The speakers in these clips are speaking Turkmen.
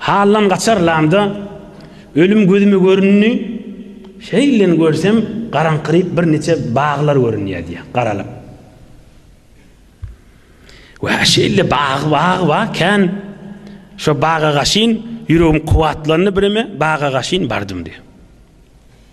Hallam gaçar lamda ölüm gözüme göründi, şeýleden görsem garaňkyryp bir niçe baglar görünýär diýýär, garalyp. Wä şeýle bag bag bar kän şo baga gaşyn ýüregim kuwwatlandy bireme baga gaşyn bardym diýýär.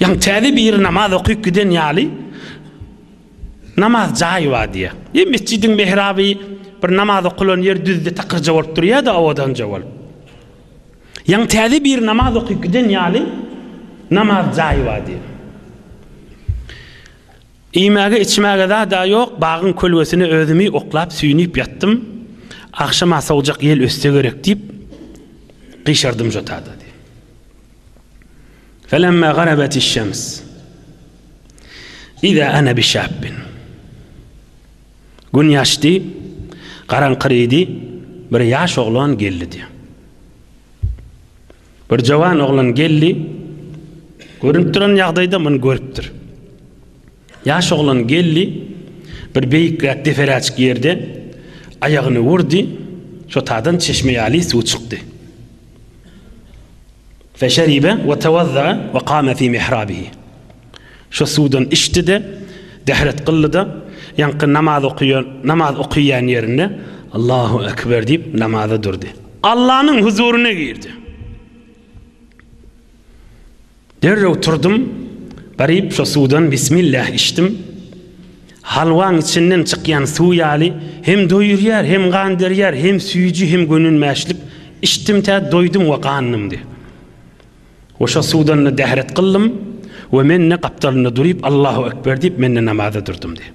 Ýa täze biri namaz okyp giden ýaly namaz jaýy bar diýýär. Ýa metjidiň mehraby bir namaz okulan ýer düzde takyrja bolup durýar-da owadanja bolup. Ýa täze biri namaz okyp giden ýaly namaz jaýy bar diýýär. Iýmäge içmäge zad-a ýok, bagyň kölgesine özümi oklap süýnüp ýatdym. Agşama sowjak ýel össe gerek diýip, gyşardym jotada diýýär. Felemma garabatiş şems. Iza ana bi şabbin. Gün ýaşdy, garaňkyrydy, bir ýaş oglan geldi diýdi. Bir jawan oglan geldi, görünip duran ýagdaýda muny görüpdir. Ýaş oglan geldi, bir beýikräk deperäçik ýerde aýagyny urdy, çotadan çeşme ýaly suw çykdy. Feşeribe we tewazza'a we kame fi mihrabihi. Şo suwdan içdi-de, dehret kyldy-da, ýaňky namaz okaýan, namaz okaýan ýerinde Allahu ekber diýip namaza durdy. Allanyň huzuryna girdi. Derrew turdum, baryp şo suwdan bismillah içdim. Halwaň içinden çykýan suw ýaly, hem doýurýar, hem gan berýär, hem süýji, hem gönünmäşlik. Içdim tä doýdum we gandymdy. We şo suwdan-da dähret gyldym we men-de gapdalynda duryp Allahu ekber diýip men-de namaza durdum diýip.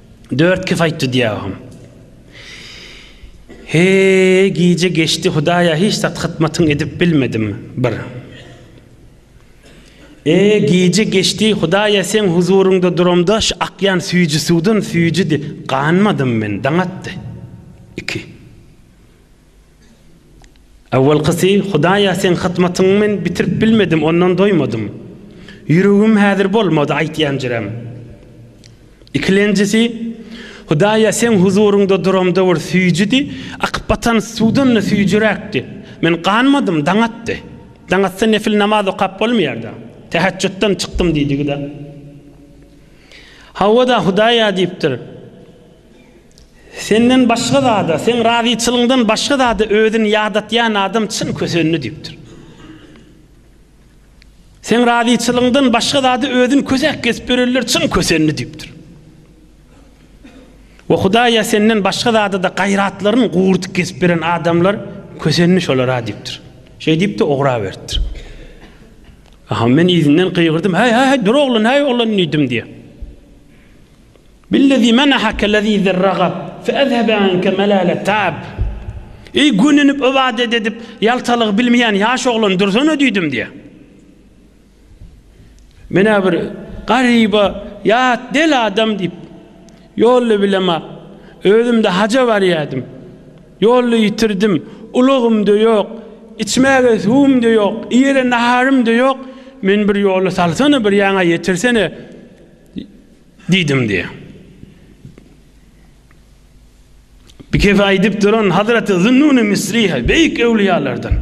Dört kifaýt dudýagym. He, gije geçdi Hudaýa hiç zat hytmatyn edip bilmedim. Bir. E, gije geçdi Hudaýa seň huzuryňda duramda şu akýan süýji suwdan süýjidi, ganmadym men, daň atdy. Iki. Awalkysy, Hudaýa seň hyzmatyňy men bitirip bilmedim, ondan doýmadym. Ýüregim häzir bolmady aýtýanjyrem. Ikilenjisi, Hudaýa seň huzuryňda duramda bir süýjidi, akyp batan suwdan-da süýjüräkdi. Men ganmadym, daň atdy. Daň atsa nefil namaz okap bolmaýar-da. Täheçjutdan çykdym diýdigi-de. Hawa-da, Hudaýa diýipdir. Senden başga zada, seň razyçylygyňdan başga zada özüni ýadatýan adam çyn kösenli diýipdir. Seň razyçylygyňdan başga zada özüni kösäk gezip ýörenler çyn kösenli diýipdir. We Hudaýa senden başga zada-da gaýratlaryny gurudyp gezip ýören adamlar kösenli şolara diýipdir. Şeý diýip-de ugraberipdir. Aha, men yzyndan gygyrdym, Häý, häý, häý, dur oglan, häý, oglan diýdim diýýär. Billezî menaheke lezîzerragab fe ezhebe anke melâletab. Eý, gönenip ybadet edip, ýaltalygy bilmeýän ýaş oglan, dursana diýdim diýýär. Men-ä bir garyba, ýat, del adam diýip, ýolda bilemok. Özüm-de haja barýardym. Ýolda ýitirdim. Ulagym-da ýok. Içmäge suwum-da ýok. Iýere naharym-da ýok. Meni bir ýola salsana, bir ýaňa ýetirsene. Diýdim diýýär. Bikese aýdyp duran Hazreti Zünnun-i Misri, beýik öwliýalardan.